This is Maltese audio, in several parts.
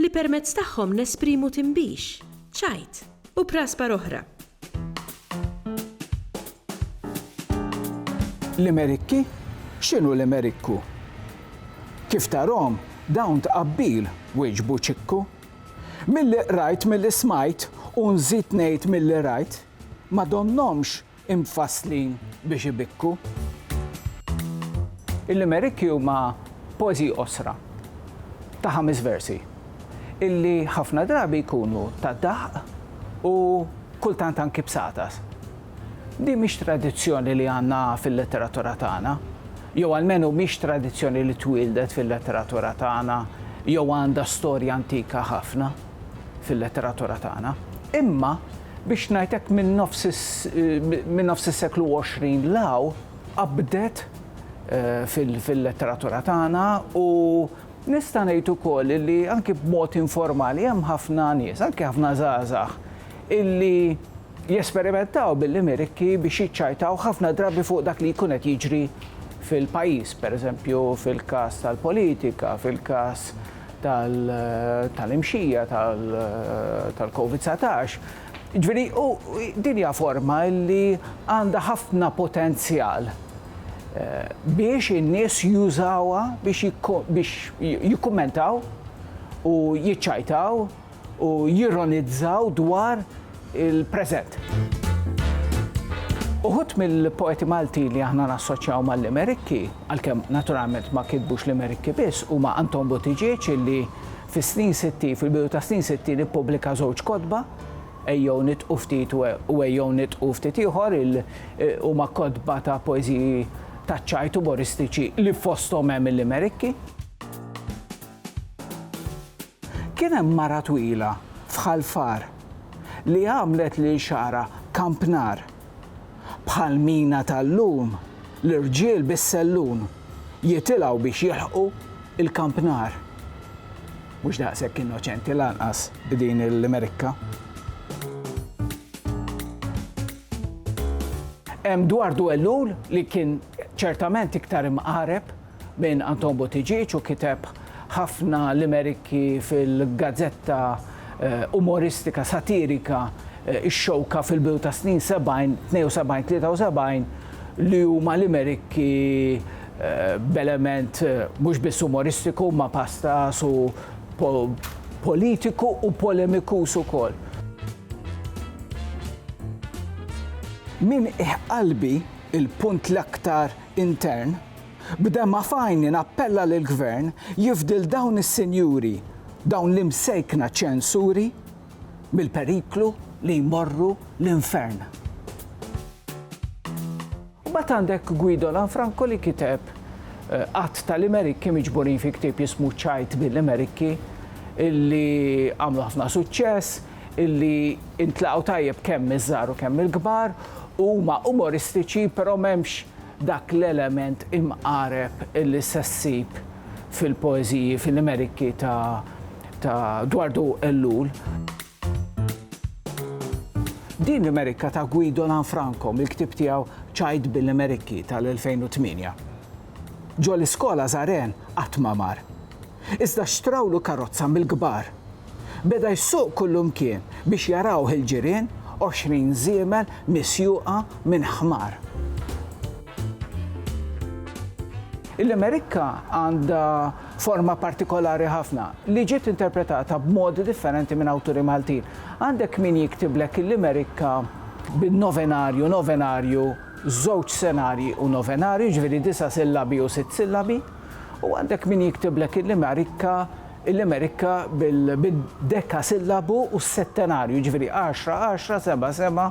li permezz tagħhom nesprimu tinbix, ċajt, u praspar oħra. Limerikki? X'inhu limerikku? Kif tarhom, dawn tqabbil, wieġbu Ċikku. Milli qrajt, milli smajt, u nżid ngħid milli rajt, ma donnhomx imfasslin biex ibikku. Il-limerikki huma poeżiji qosra ta' ħames versi illi ħafna drabi jkunu ta' dahq u kultant anki b'satas. Din mhix tradizzjoni li għandna fil-letteratura tagħna, jew almenu mhix tradizzjoni li twieldet fil-letteratura tagħna jew għandha storja antika ħafna fil-letteratura tagħna. Imma biex ngħid hekk minn nofs minn nofs is-seklu 20 'l hawn qabdet fil-letteratura tagħna u nista' ngħid ukoll li anki b'mod informali hemm ħafna nies, anki ħafna żgħażagħ illi jesperimentaw bil-limerikki biex jiċċajtaw ħafna drabi fuq dak li jkun qed jiġri fil-pajjiż, pereżempju fil-każ tal-politika, fil-każ tal-imxija tal-Covid 19. Ġifieri din hija forma li għandha ħafna potenzjal biex in-nies jużawha biex jikkummentaw u jiċċajtaw u jironizzaw dwar il-preżent. Uħud mill-poeti Malti li aħna nassoċjaw mal-Limerikki, għalkemm naturalment ma kitbux Limerikki biss, huma Anton Buttigieg illi fis-snin sitti, fil-bidu tas-snin sittin ippubblika żewġ kotba, Ejjew nitqu ftit u Ejjew nitqu ftit ieħor, huma kotba ta' poeżiji taċ-ċajt umoristiċi li fosthom hemm il-Limerikki. Kien hemm mara twila f'Ħal Far li għamlet lil xagħarha kampnar. Bħal mina tal-lum l-irġiel bis-sellun jitilgħu biex jilħqu l-kampnar. Mhux daqshekk innoċenti lanqas din il-Merikka. Hemm dwar Dwellul li kien ċertament iktar imqareb. Minn Anton Buttigieg u kiteb ħafna limerikki fil-gazzetta umoristika satirika Ix-Xewka fil-bidu tas-snin 70, 72, 73, li huma limerikki b'element mhux biss umoristiku imma pastaż u politiku u polemikuż ukoll. Minn Iħqalbi, il-punt l-aktar intern B'demgħa f'għajni nappella lill-Gvern jifdil dawn is-sinjuri, dawn l-imsejkna ċensuri, mill-periklu li jmorru l-infern. Mbagħad għandek Guido Lanfranco li kiteb għadd ta' limerikki miġburin fi ktieb jismu Ċajt bil-Limerikki illi għamlu ħafna suċċess. illi intlaqgħu tajjeb kemm miż-żgħar u kemm mill-kbar, huma umoristiċi però m'hemmx dak l-element imqareb illi se ssib fil-poeżiji, fil-limerikki ta' ta' Dwardu Ellul. Din limerikka ta' Guido Lanfranco mill-ktieb tiegħu Ċajt bil-Limerikki tal-2008. Ġo l-iskola żar għen qatt ma mar. Iżda xtrawlu karozza mill-kbar. Beda jsuq kullumkien biex jarawh il-ġirien, għoxrin żiemel misjuqa minn ħmar. Il-Limerikka għandha forma partikolari ħafna, li ġiet interpretata b'modi differenti minn awturi Maltin. Għandek min jiktiblek il-Limerikka bin-novenarju, novenarju, żewġ senarji u novenarji, jiġifieri disa' sillabi u sitt sillabi, u għandek min jiktiblek il-limerikka, il-limerikka bid-dekasillabu u s-settenarju, jiġifieri għaxra, għaxra, seba', seba'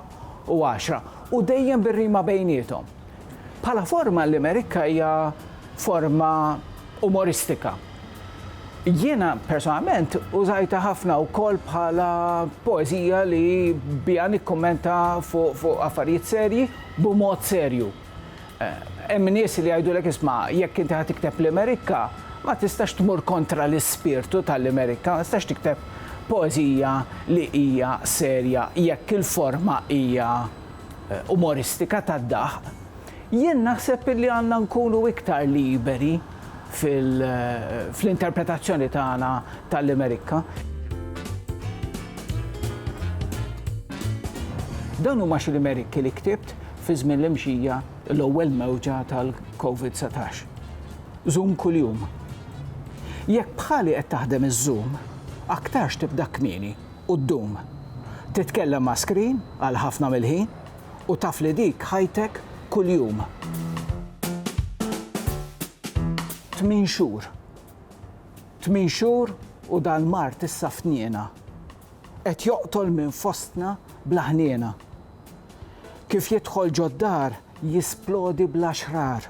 u għaxra, u dejjem bir-rima bejniethom. Bħala forma l-limerikka hija forma umoristika. Jiena personalment użajtha ħafna wkoll bħala poeżija li biha nikkummenta fuq affarijiet serji b'mod serju. Hemm nies li jgħidulek isma' jekk inti ħa tikteb limerikka ma tistax tmur kontra l-ispirtu tal-limerikka, ma tistax tikteb poeżija li hija serja jekk il-forma hija umoristika tad-daħq. Jien naħseb illi għandna nkunu iktar liberi fl-interpretazzjoni tagħna tal-Imerikka. Dawn huma xi limerikki li ktibt fi żmien li mxija l-ewwel mewġa tal-COVID-19. Żum kuljum. Jekk bħali qed taħdem iż-Zoom, aktarx tibda kmieni u ddum. Titkellem ma' screen għal ħafna mill-ħin U taf li dik ħajtek kuljum. Tmien xhur. Tmien xhur u dal-mard issa f'tniena. Qed joqtol minn fostna bla ħniena. Kif jidħol ġod-dar jisplodi bla xrar.